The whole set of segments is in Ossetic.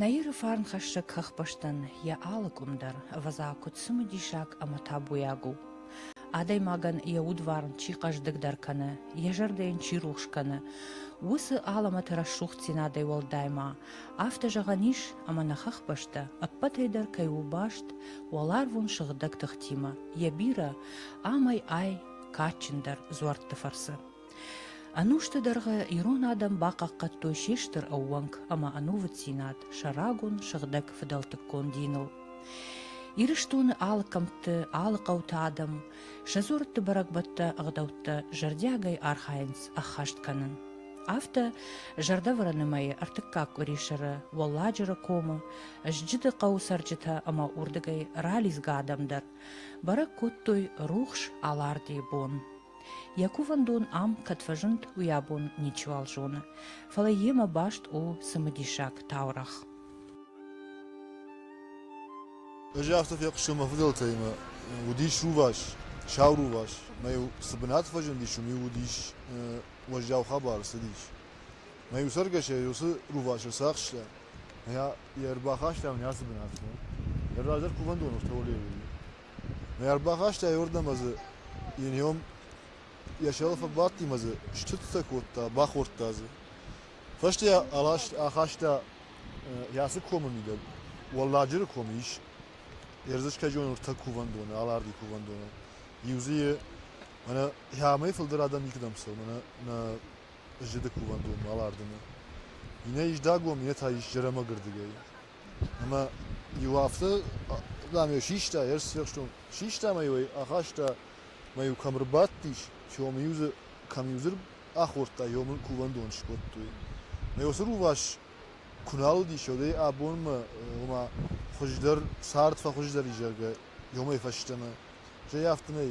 Наиры фарнхӕссӕг хӕхбӕстӕн йӕ алы къуым дӕр ӕвӕдза куыд цымыдисаг ӕмӕ табуйаг у. Адӕймагӕн йӕ удварн чи хъӕздыгдӕр кӕны, йӕ зӕрдӕ йын чи рухс кӕны, уыцы алӕмӕты рӕсугъддзинадӕй уӕлдай ма Афтӕ зӕгъӕн ис, ӕмӕ нӕ хӕхбӕстӕ, ӕппӕтӕй дӕр кӕй у баст уӕларвон сыгъдӕг тыхтимӕ, йӕ бирӕ, амӕй-ай кадджындӕр дзуӕртты фӕрцы. Ӕнусты дӕргъы ирон адӕм бахъахъхъӕдтой се стыр ӕууӕнк ӕмӕ ӕнувыддзинад сӕ рагон сыгъдӕг фыдӕлтыккон диныл. Ирыстоны алы кӕмтты, алы хъӕуты адӕм сӕ дзуӕртты бӕрӕгбӕттӕ, ӕгъдӕуттӕ зӕрдиагӕй архайынц ӕххӕст кӕнын. Афтӕ зӕрдӕвӕрӕны мӕйы ӕртыккаг къуырисӕры Уӕлладжыры комы Зджыды хъӕуы цӕрджытӕ ӕмӕ уырдыгӕй ралидзгӕ адӕм дӕр бӕрӕг кодтой рухс Алардийы бон. Йӕ кувӕндон ам кӕд фӕзынд, уый абон ничиуал зоны, фӕлӕ йемӕ баст у цымыдисаг таурӕгъ. Ӕз афтӕ фехъуыстон мӕ фыдӕлтӕимӕ. Уыдис рувас, сау рувас. Мӕ цы бынат фӕзындис, уым-иу уыдис уӕззау хабар ӕрцыдис. Мӕ иуцӕргӕсӕй уыцы рувасы цы ахста, йӕ ӕрбахастам не ацы бынатмӕ. Йӕ раздӕр кувӕндон Автолевийы. Мӕ ӕрбахаста айуырдӕм ӕзы йе ниом йӕ сӕрыл фӕбадти мӕ дзы стыдтӕ кодта, бахордта дзы. Фӕстӕ йӕ аласт, ахаста йацы комы мидӕг, Уӕлладжыры комы ис ӕрдзысгӕджон ӕртӕ кувӕндоны, Аларди кувӕндоны. Иу дзы йы Мӕнӕ амӕй фылдӕр адӕм никуыдӕм цӕуы мӕнӕ нӕ зыды кувӕндонмӕ Алардыны. Иннӕ Исдагом, иннӕ та Исджерӕмӕгырдыгӕй. Ӕмӕ иу афтӕ, дам, йӕ систа, йӕ сфехстон. Систа мӕ-иу ӕй ахаста, мӕ-иу кӕм ӕрбадтис, сомы-иу дзы кӕм-иу дзы ахордта, омыл кувӕндон скодтой. Мӕ уыцы рувас куы нал уыдис, уӕдӕй абонмӕ, ома, хуыздӕр, цард фӕхуыздӕр и, зӕгъгӕ, ёмӕй фӕстӕмӕ. Стӕй афтӕ нӕй,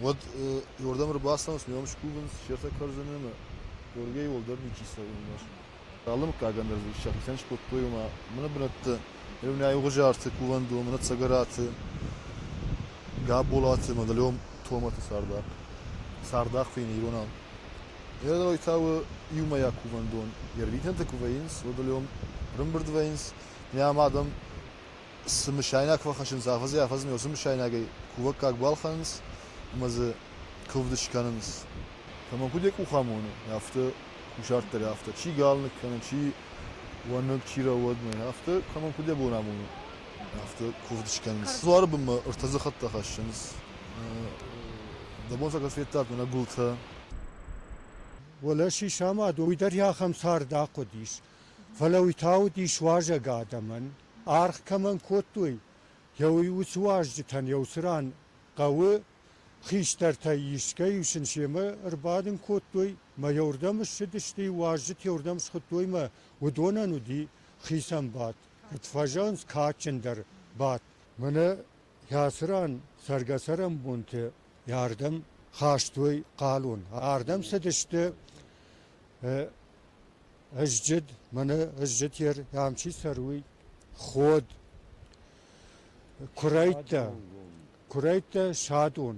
уӕд уырдӕм ӕрбацӕуынц, ме ном скувынц, сӕртӕ кӕрдзын ӕмӕ Георгийӕ уӕлдӕр ничи цӕуы ӕмбӕрст. Алы мыггагӕн дӕр дзы сӕхицӕн скодтой, ома мыны бынӕтты, Ревнайы Угъуызарты, кувӕндоны, Цӕгӕраты, Габолаты, Мадылём, Томаты цардах, цардах фӕйнӕ иронау. Эрой та у иумӕйаг кувӕндон. Йе рвитӕнтӕ куы вӕййынц, Мадылём, рымбырд вӕййынц, йӕм адӕм цы мысайнаг фӕхӕссынц, афӕдзӕй-афӕдзмӕ уыцы мысайнагӕй кувӕггаг балхӕнынц ӕмӕ дзы куывд скӕнынц. Кӕмӕн куыд йӕ къух амоны, афтӕ кусарт дӕр афтӕ, чи галныг кӕны, чи уӕныг, чи рӕуӕдмӕ, афтӕ кӕмӕн куыд йӕ бон амоны, афтӕ куывд скӕнынц. Дзуары бынмӕ ӕртӕ дзы хӕдтӕ хӕссынц. Дӕ бон сӕ кӕд федтат мӕнӕ гуылтӕ? Уӕлӕ чи самад, уый дӕр ахӕм цард ахъуыдис. Фӕлӕ уый та уыдис уазӕг адӕмӕн. аргъ кӕмӕн кодтой, йӕ уый уыцы уазджытӕн еу цыран хъӕуы хистӕртӕй искӕй сын семӕ ӕрбадын кодтой мӕ йӕ уырдӕм ссыдысты, уазджыты уырдӕм схуыдтой мӕ уыдонӕн уыди хицӕн бадт, куыд фӕзӕгъынц, кадджындӕр бадт. Мӕнӕ йӕ цыран цӕргӕ-цӕрӕнбонты йӕ-ардӕм хастой хъалон, ардӕм цыдысты Ызджыд, мӕнӕ ызджытер ам чи цӕруй, ход, курӕйттӕ, курӕйттӕ садон,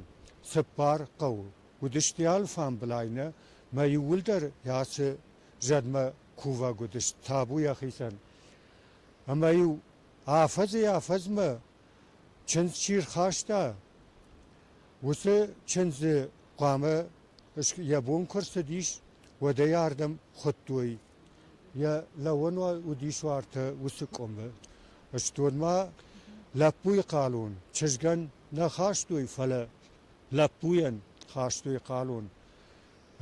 цыппар хъӕуы уыдысты алфамбылай нӕ, мӕ иууылдӕр ацы зӕдмӕ кувӕг уыдысты табу йӕхицӕн. Ӕмӕ-иу афӕдзӕй-афӕдзмӕ чындз чи рхаста, уыцы чындзы хъуамӕ йӕ бон куы рцыдис, уӕдӕй ардӕм хуыдтой. Йӕ лӕууӕн уыдис уартӕ уыцы къуымы. Стон ма лӕппуйы хъалон. Чызгӕн нӕ хастой, фӕлӕ лӕппуйӕн хастой хъалон.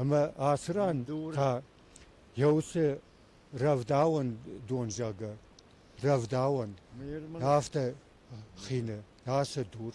Ӕмӕ ацы ран та йӕ уыцы рӕвдауӕн дон зӕгъы, рӕвдауӕн, афтӕ хины ацы дур.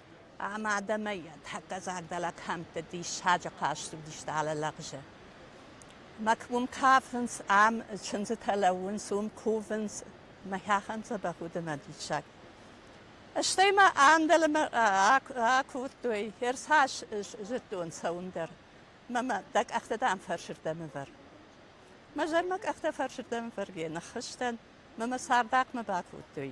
Ӕмӕ адӕмӕй тӕккӕ зӕрдӕлӕг хӕмтты диссаджы хъазт уыдис дӕлӕ лӕгъзы. Мӕ уым кафынц, ам чындзытӕ лӕууынц, уым кувынц. Мӕхӕхӕн дзӕбӕх уыд мӕ диссаг. Стӕй ма ӕндӕлмӕ акодтой, ӕрцас зыдтон цӕуын дӕр. Мӕ дӕ къӕхтӕ, дам, фӕрсырдӕм ӕвӕр. Мӕ зӕр мӕ къӕхтӕ фӕрсырдӕм ӕвӕргӕ ныххызтӕн, мӕ мӕ цардахъмӕ бакодтой.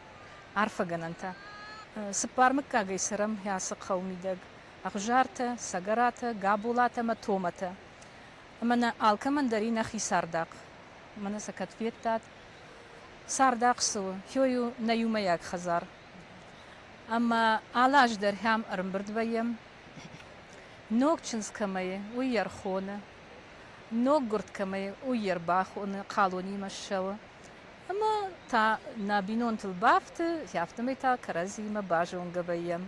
Арфӕгӕнӕнтӕ! Цыппар мыггагӕй цӕрӕм ацы хъӕуы мидӕг, Ӕгъуызартӕ, Цӕгӕратӕ, Габолатӕ ӕмӕ Томатӕ. Ӕмӕ нӕ алкӕмӕн дӕр и нӕхи цардахъ. Мӕнӕ сӕ кӕд федтат. Цардахъ цы у? Хёй у нӕ иумӕйаг хӕдзар. Ӕмӕ алы аз дӕр ӕм ӕрымбырд вӕййӕм. Ног чындз кӕмӕ и, уый йӕ рхоны. Ног гуырд кӕмӕ и, уый йе рбахоны, хъалонимӕ ссӕуы. Ӕмӕ та нӕ бинонтыл бафты, афтӕмӕй та кӕрӕдзиимӕ базонгӕ вӕййӕм.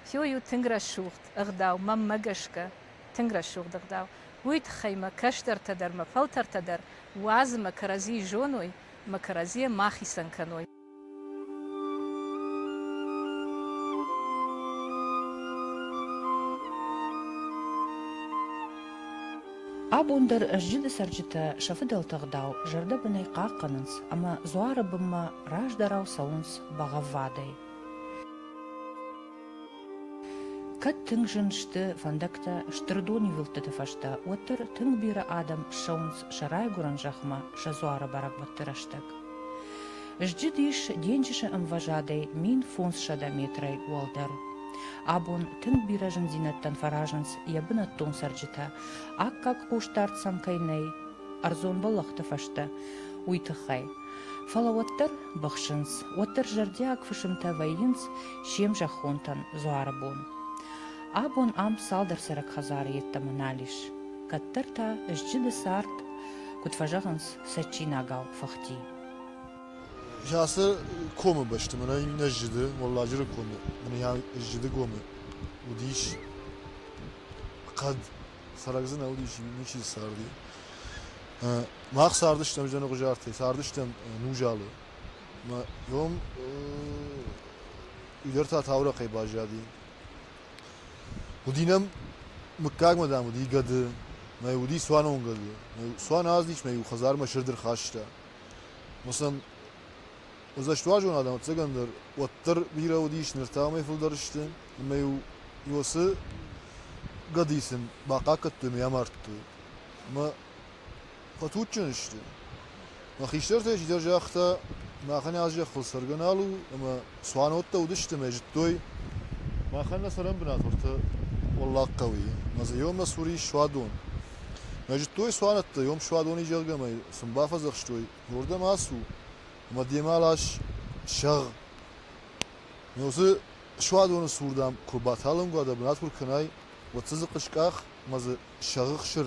Хиуыл у тынг рӕсугъд ӕгъдау, мӕнмӕ гӕсгӕ, тынг рӕсугъд ӕгъдау. Уый тыххӕй мӕ кӕстӕртӕ дӕр, мӕ фӕлтӕртӕ дӕр уадзы мӕ кӕрӕдзийы зоной, мӕ кӕрӕдзийӕ ма хицӕн кӕной. Абон дӕр зыды цӕрджытӕ сӕ фыдӕлты ӕгъдау зӕрдӕбынӕй хъахъхъӕнынц ӕмӕ дзуары бынмӕ раздӕрау цӕуынц бӕгъӕввадӕй. Кӕд тынг зын сты фӕндӕгтӕ стыр донивылдтыты фӕстӕ, уӕддӕр тынг бирӕ адӕм ссӕуынц сӕ райгуырӕн зӕхмӕ сӕ дзуары бӕрӕгбӕтты рӕстӕг. Сзджыдис денджызы ӕмвӕзадӕй мин фондзсӕдӕ метрӕй уӕлдӕр. Абон тынг бирӕ зындзинӕдтӕн фӕразынц йӕ бынӕттон цӕрджытӕ, аккаг хъусдард сӕм кӕй нӕй ӕрдзон бӕллӕхты фӕстӕ, уый тыххӕй. Фӕлӕ уӕддӕр быхсынц, уӕддӕр зӕрдиаг фысымтӕ вӕййынц се мзӕххонтӕн дзуары бон. Абон ам цалдӕр цӕрӕг хӕдзары йеддӕмӕ нал ис. Кӕддӕр та сзджыды цард, куыд фӕзӕгъынц, цӕджджинагау фӕхти. Засы комы бӕсты мӕнӕ иннӕ зыды, Уӕлладжыры комы, мӕнӕ йӕ Зыдыгомы уыдис хъӕд. Цӕрӕг дзы нӕ уыдис, ничи дзы царди. Мах цардыстӕм Зӕныгъуызартӕй, цардыстӕм Нузалы. Мӕ ном уый дӕр та таурӕхъӕй баззади. Уыди нӕм мыггагмӕ, дам, уыди гӕды, мӕ уыди цуанон гӕды. Цуан аздис мӕ иу хӕдзармӕ стыр дыр хаста. Ус нӕм уырдзӕстуарзон адӕм, ӕцӕгӕн дӕр, уӕддӕр бирӕ уыдис, ныр та уымӕй фылдӕр сты. Ӕмӕ-иу иу уыцы гӕдыйы сын бахъахъхъӕдтой ӕмӕ йӕ амардтой. Ӕмӕ фӕтуджджын сты. Мӕ хистӕртӕ чидӕр загъта, махӕн аз зӕххыл сӕргӕ нал у, ӕмӕ цуаноттӕ уыдысты мӕ зыдтой. Махӕн нӕ цӕрӕн бынат уырты Уӕллаг хъӕуы и, мӕ дзы иомӕ цур ис суадон. Мӕ зыдтой цуанӕттӕ, иом суадон и, зӕгъгӕ, мӕ сын бафӕдзӕхстой, уырдӕм ацу, ӕмӕ демӕ лас, сӕгъ. Ме уыцы суадоны цур, дам, куы баталынг уа, дӕ бынат куы ркӕнай, уӕд дзы дзы хъыскъах, мӕ дзы сӕгъы хсыр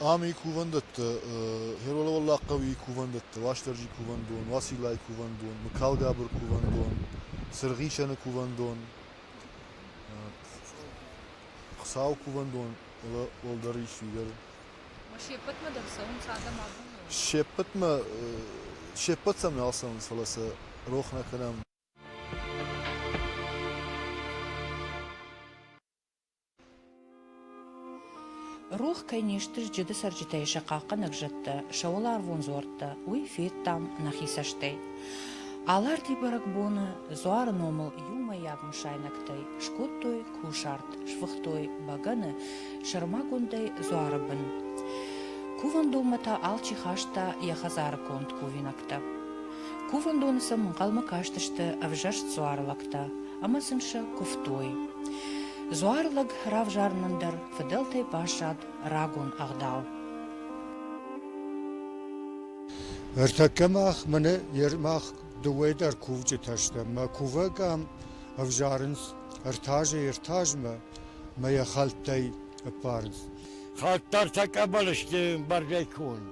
Ами кувӕндӕттӕ, Хероловӕллах хъӕуи кувӕндӕттӕ, Уастӕрджи кувӕндон, Уациллайи кувӕндон, Мыкалгабыр кувӕндон, Сыргъисӕны кувӕндон, Хуцауи кувӕндон уӕлдӕр исуидӕр. Ма се ппӕтмӕ дӕр цӕуынц адӕм абоны? Се ппӕтмӕ, се ппӕт сӕм нал цӕуынц, фӕлӕ сӕ рох нӕ кӕнӕм. Рох кӕй не сты сджыды цӕрджытӕй сӕ хъахъхъӕнӕг зӕдтӕ, сӕ уӕларвон дзуӕрттӕ, уый федтам нӕхи цӕстӕй. Аларти бӕрӕгбоны Дзуары номыл иумӕйаг мысайнӕгтӕй скодтой кусарт, сфыхтой бӕгӕны, сӕрмагондӕй дзуары бын. Кувӕндонмӕ та алчи хаста йӕ хӕдзары конд кувинӕгтӕ. Кувӕндоны сӕм ӕнхъӕлмӕ кастысты ӕвзӕрст дзуары лӕгтӕ ӕмӕ сын сӕ куывтой. Дзуары лӕг равзарынӕн дӕр фыдӕлтӕй баззад рагон ӕгъдау. Ӕртӕккӕ мах мӕнӕ мах дыууӕ дӕр кувджытӕ стӕм. Мӕ кувӕг ам ӕвзарынц ӕртӕазы ӕртӕазмӕ мӕ йӕ хӕлттӕй ӕппарынц. Хӕдтӕртӕ къӕбӕл сты ӕмбӕргӕй конд.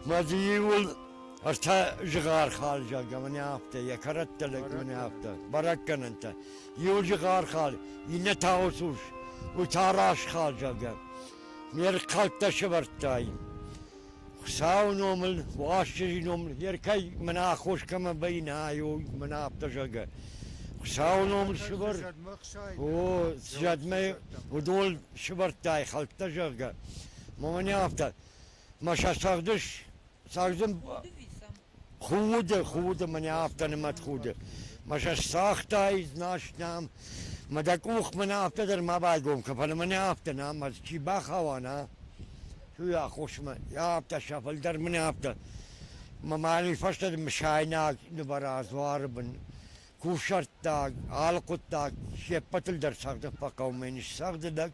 Мадзиуыл ӕртӕ зыгъархал зӕгъӕмӕн афтӕ, йӕ кӕрӕттӕ лӕгмӕн афтӕ, бӕрӕггӕнӕнтӕ. Иу зыгъархал, иннӕ та усус, уый та расхал зӕгъӕм. Ме рхъӕлдтӕ сывӕрдтай. Хуыцауы номыл, Уастырджи номыл, не ркӕй мӕнӕ аххос кӕмӕ баинаёй, мӕнӕ афтӕ зӕгъӕ. Хуыцауы номыл сывӕр. О, зӕдмӕ уыдон сывӕрдтай хӕлттӕ зӕгъгӕ. Маманя афтӕ. Мӕ сӕ цӕгъдыс. Цӕгъдын. Худы, худы, мӕнӕ афтӕ нымӕт худы. Мӕ сӕ сагътай, знас нӕм. Мӕ дӕ къух мӕнӕ афтӕ дӕр ма байгом кӕ, фӕлӕ мӕнӕ афтӕ нӕм, ӕз чи бахауа, нӕ? Цу йӕ хъусмӕ. Йӕ афтӕ сӕ фылдӕр мӕнӕ афтӕ. Мӕ мали фӕстӕ мысайнаг нывӕра дзуары бын. Кусӕрттаг, алхъуыддаг, се ппӕтыл дӕр цӕгъды фӕхъӕуы, мӕн ссӕгъды дӕг.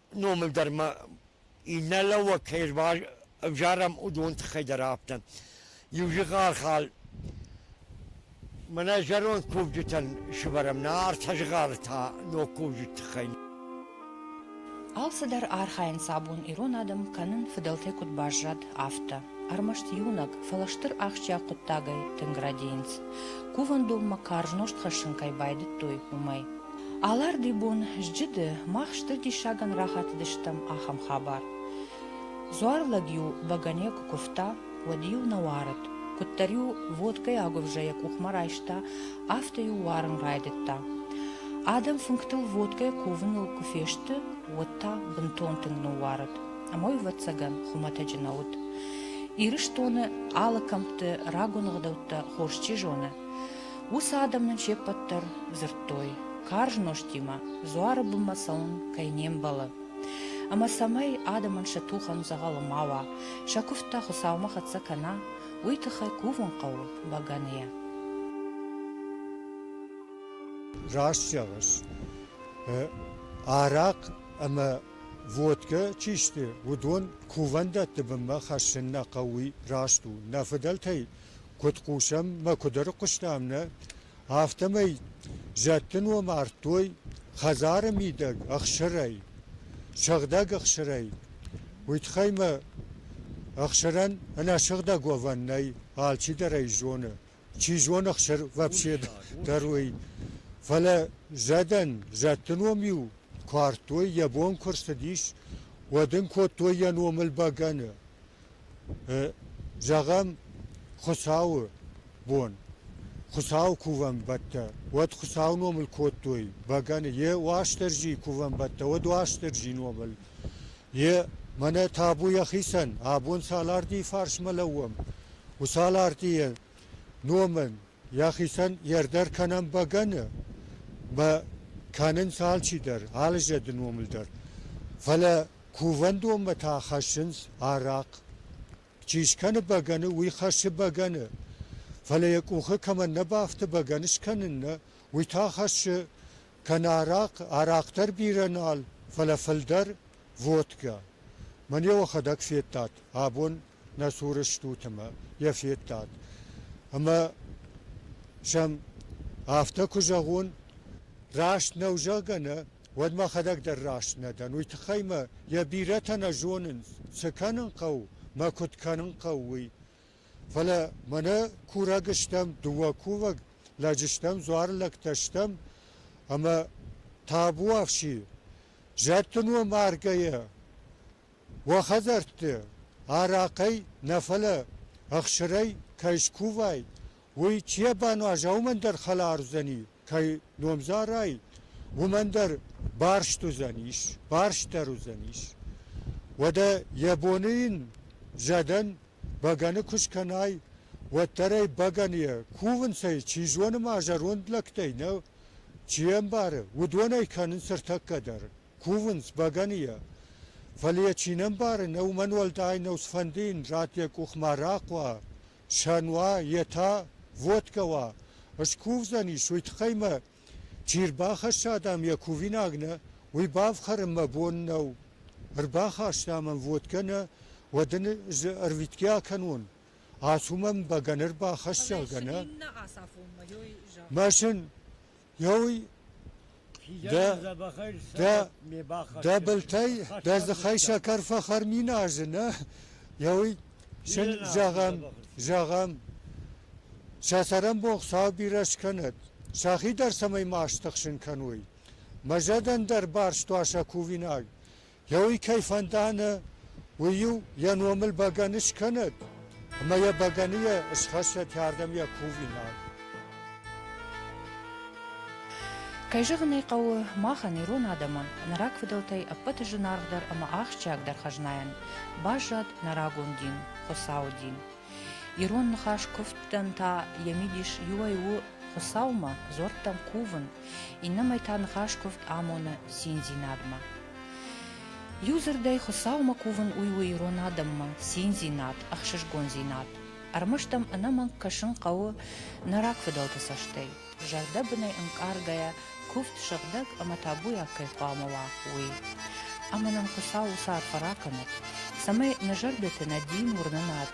номыл дӕр ма иннӕ лӕууӕг кӕй ӕвзарӕм, уыдон тыххӕй дӕр афтӕ. Иу зыгъархал мӕнӕ зӕронд кувджытӕн сывӕрӕм, нӕ ӕртӕ зыгъары та ног кувджыты тыххӕй. Алцыдӕр архайынц абон ирон адӕм кӕнын фыдӕлтӕй куыд баззад, афтӕ. Ӕрмӕст иунӕг, фӕлӕ стыр ахсджиаг хъуыддагӕй тынг рӕдийынц. Кувӕндонмӕ карз нозт хӕссын кӕй байдыдтой, уымӕй. Аларди бон зджыды мах стыр диссагӕн рахатыдыстӕм ахӕм хабар. Дзуарлӕг-иу бӕгӕне куы куывта, уӕд-иу нӕ уарыд. Куыддӕр-иу водкӕйы агуывзӕ йӕ къухмӕ райста, афтӕ-иу уарын райдыдта. Адӕм фынгтыл водкӕйы кувыныл куы фесты, уӕд та бынтон тынг ныууарыд. Ам ӕй, ӕвӕццӕгӕн, хуымӕтӕджы нӕ уыд. Ирыстоны алы кӕмтты рагон ӕгъдӕуттӕ хорз чи зоны. Уыцы адӕм нын се ппӕт дӕр дзырдтой, карз нозтимӕ дзуары бынмӕ цӕуын кӕй не мбӕлы. Ӕмӕ цӕмӕй адӕмӕн сӕ тухӕн дзӕгъӕлы ма уа, сӕ куывдтӕ Хуыцаумӕ хӕццӕ кӕна, уый тыххӕй кувын хъӕуы бӕгӕныйӕ. Раст зӕгъыс. Арахъ ӕмӕ водкӕ чи сты, уыдон кувӕндӕтты бынмӕ хӕссын нӕ хъӕуы, уый раст у. Нӕ фыдӕлтӕй куыд хъусӕм, мӕ куыд ӕрыхъуыстам, нӕ? Афтӕмӕй зӕдты ном ардтой хӕдзары мидӕг ӕхсырӕй, сыгъдӕг ӕхсырӕй. Уый тыххӕй мӕ ӕхсырӕн ӕнӕсыгъдӕг уӕвӕн нӕй, алчидӕр ӕй зоны. Чи зоны, ӕхсыр вообще дӕр уый. Фӕлӕ зӕдӕн зӕдты ном-иу куы ардтой, йӕ бон куы рцыдис, уӕд ын кодтой йӕ номыл бӕгӕны. Зӕгъӕм, Хуыцауы бон. Хуыцауы кувӕнбӕттӕ, уӕд Хуыцауы номыл кодтой бӕгӕны. Йе Уастырджийы кувӕнбӕттӕ, уӕд Уастырджийы номыл. Йе мӕнӕ табу йӕхицӕн, абон цал ардийы фарсмӕ лӕууӕм, уыцы ал ардийы номӕн Йӕхицӕн йе рдӕр кӕнӕм бӕгӕны, ба кӕнынц алчидӕр, алы зӕды номыл дӕр. Фӕлӕ кувӕндонмӕ та хӕссынц арахъ. Чи скӕны бӕгӕны, уый хӕссы бӕгӕны. Фӕлӕ йӕ къухы кӕмӕн нӕ бафты бӕгӕны скӕнын нӕ, уый та хӕссы кӕнӕ арахъ, арахъ дӕр бирӕ нал, фӕлӕ фылдӕр, водкӕ. Мӕн йӕ охӕдӕг федтат, абон нӕ цуры стут ӕмӕ йӕ федтат. Ӕмӕ сӕм афтӕ куы зӕгъон, раст нӕу, зӕгъгӕ, нӕ, уӕд мӕхӕдӕг дӕр раст нӕ дӕн. Уый тыххӕй мӕ йӕ бирӕтӕ нӕ зонынц, цы кӕнын хъӕуы, мӕ куыд кӕнын хъӕуы, уый. Фӕлӕ мӕнӕ курӕг стӕм, дыууӕ кувӕг лӕджы стӕм, дзуары лӕгтӕ стӕм, ӕмӕ табуафси, зӕдты ном аргӕйӕ уӕ хӕдзӕртты арахъӕй нӕ фӕлӕ ӕхсырӕй кӕй скувай, уый чи ӕрбануаза, уымӕн дӕр хӕлар уыдзӕни, кӕй номдзарай, уымӕн дӕр барст уыдзӕнис, барстдӕр уыдзӕнис. Уӕдӕ йӕ боны йын зӕдӕн бӕгӕны куы скӕнай, уӕддӕр ӕй бӕгӕныйӕ кувынцӕй, чи зоны ма зӕронд лӕгтӕй нӕ чи ӕмбары, уыдон ӕй кӕнынц ӕртӕккӕ дӕр. Кувынц бӕгӕныйӕ, фӕлӕ йӕ чи не мбары, нӕ уымӕн уӕлдай нӕу цыфӕнды йын зӕд йӕ къух ма рахъуа, сӕн уа, йе та водкӕ уа, скувдзӕнис, уый тыххӕй мӕ чи рбахӕсса адӕм йӕ кувинаг нӕ, уый бафхӕрын мӕ бон нӕу. Ӕрбахастам ӕм водкӕ нӕ, уӕд ын ӕз ӕрвитгӕ акӕнон, ацу мӕм бӕгӕны ӕрбахӕсс, зӕгъгӕ, нӕ? Мӕсын, Дӕ былтӕй дӕ дзыхӕй сӕкӕр фӕхӕрминазы, нӕ? Еуй син зӕгъӕн, зӕгъӕн. Сӕ цӕрӕнбон Хуцау бирӕ скӕнӕд. Сӕхи дӕр цӕмӕй ма стыхсын кӕной. Мӕ зӕдӕн дӕр барст уа сӕ кувинаг. Йӕ уый кӕй фӕндӕны, уый-иу йӕ номыл бӕгӕны скӕнӕд, ӕмӕ йӕ бӕгӕны йӕ схӕссӕт ардӕм йӕ кувинаг. Кӕй зӕгъын ӕй хъӕуы, махӕн, ирон адӕмӕн, нӕ рагфыдӕлтӕй ӕппӕты зынаргъдӕр ӕмӕ ахсджиагдӕр хӕзнайӕн баззад нӕ рагон дин, Хуыцауы дин. Ирон ныхас куывдтӕн та йӕ мидис иуӕй у Хуыцаумӕ дзуӕрттӕм кувын, Иннӕмӕй та ныхас куывд амоны циндзинадмӕ. Иу дзырдӕй, Хуыцаумӕ кувын у у ирон адӕммӕ циндзинад, ӕхсызгондзинад. Ӕрмӕст ӕм ӕнӕмӕнг кӕсын хъӕуы нӕ рагфыдӕлты цӕстӕй, зӕрдӕбынӕй ӕнкъаргӕйӕ куывд сыгъдӕг ӕмӕ табуйаг кӕй хъуамӕ уа, уый. Ӕмӕ нын Хуыцау уыцы арфӕ ракӕнӕд, цӕмӕй нӕ зӕрдӕты нӕ дин уырнынад